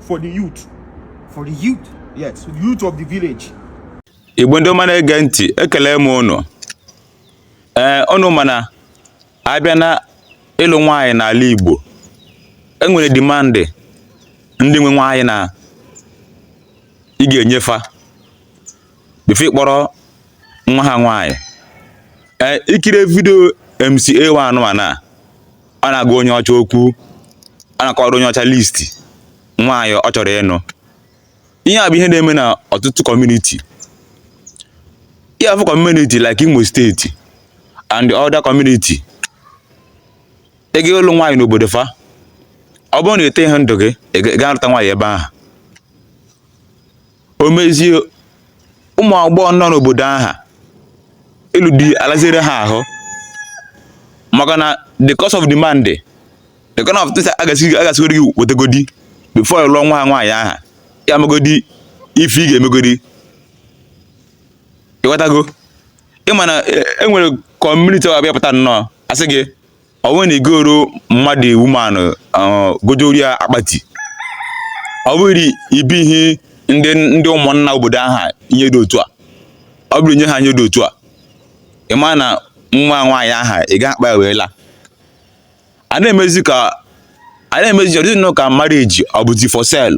for the youth. For the youth? Yes, youth of the village. Igbo ndị ọma na-ege ntị, ekele m unu. Ee, unu ma na a bịa na ịlụ nwaanyị n'ala Igbo, e nwere demand ndị nwe nwaanyị na ị ga-enye fa before ị kpọrọ nwa ha nwaanyị. Ee, i kiri video MCA1 a ọ na-agwa onye ọcha okwu ọ na-akọrọ onye ọcha list nwaanyị ọ chọrọ ịnụ ihe a bụ ihe na-eme na ọtụtụ community ihe afọ community like Imo State and other community ị ga ịlụ nwaanyị n'obodo fa ọ bụrụ na ete ihe ndụ gị ị ga-alụta nwaanyị ebe aha o mezie ụmụ agbọghọ nọ n'obodo aha ịlụ di alaziere ha ahụ maka na the cost of demand the kind of things a ga-asịgodi gị wetegodi before lụọ nwa ha nwaanyị aha ya megodi ife ị ga-emegodi ị ghọtago ị ma na e nwere community ọ bịa pụta nnọọ a sị gị ọ bụrụ na ị goro mama the woman gojuru ya akpati ọ bụrụ ibi ihe ndị ndị ụmụnna obodo aha ihe dị otu a ọ bụrụ nye ha ihe dị otu a ị ma na nwa nwaanyị aha ị ga-akpọ ya wee laa a na-emezi ka a na-emezi ọ dịzi nnọọ ka marriage ọ bụzi for sale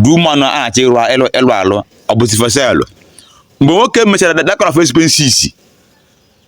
the woman aha a chọ ịrụ ịlụ ịlụ alụ ọ bụzi for sale mgbe nwoke mechara that kind of expenses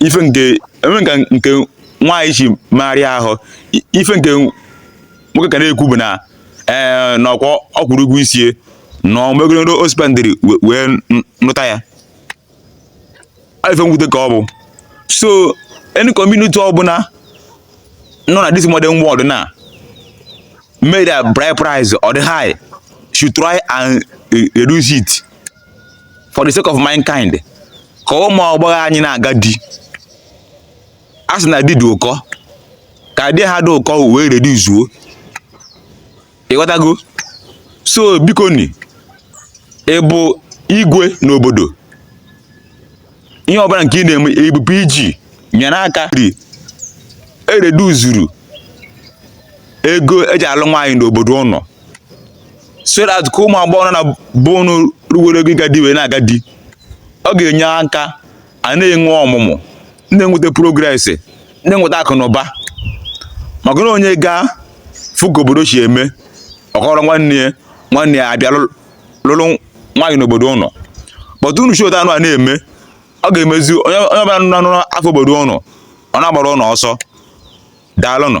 ife nke enwe nka nke nwaanyị ji megharịa ahụ I- ife nke nwoke ka na-ekwu bụ na ee na ọ kwa ọ kwụrụ ụgwọ isi e na ọ megoro o spendịrị we- wee n- nụta ya Ọ ife mwute ka ọ bụ so any community ọbụla nọ na this modern world na-eme their bride price ọ dị high should try and eh, reduce it for the sake of mankind ka ụmụ agbọghọ anyị na-aga di a sị na di dị ụkọ ka di aha dị ụkọ wee reduce-uo ị ghọtago so bikonụ ị bụ igwe n'obodo ihe ọbụla nke ị na-eme ị bụ PG nyere aka ri- e reduce-uru ego e ji alụ nwaanyị n'obodo unu so that ka ụmụ agbọghọ nọ na be unu ruwere ogo ịga di wee na-aga di ọ ga-enye aka a na-enwe ọmụmụ na-enweta progress na-enweta akụ na ụba maka na onye gaa fụ ka obodo si eme ọ kọọrọ nwanne ya nwanne ya abịa lụ- lụrụ nwaanyị n'obodo unu but unu si otu anụ a na-eme ọ ga-emezi onye onye ọbụla nụrụ afa obodo unu ọ na-agbara unu ọsọ daalụnụ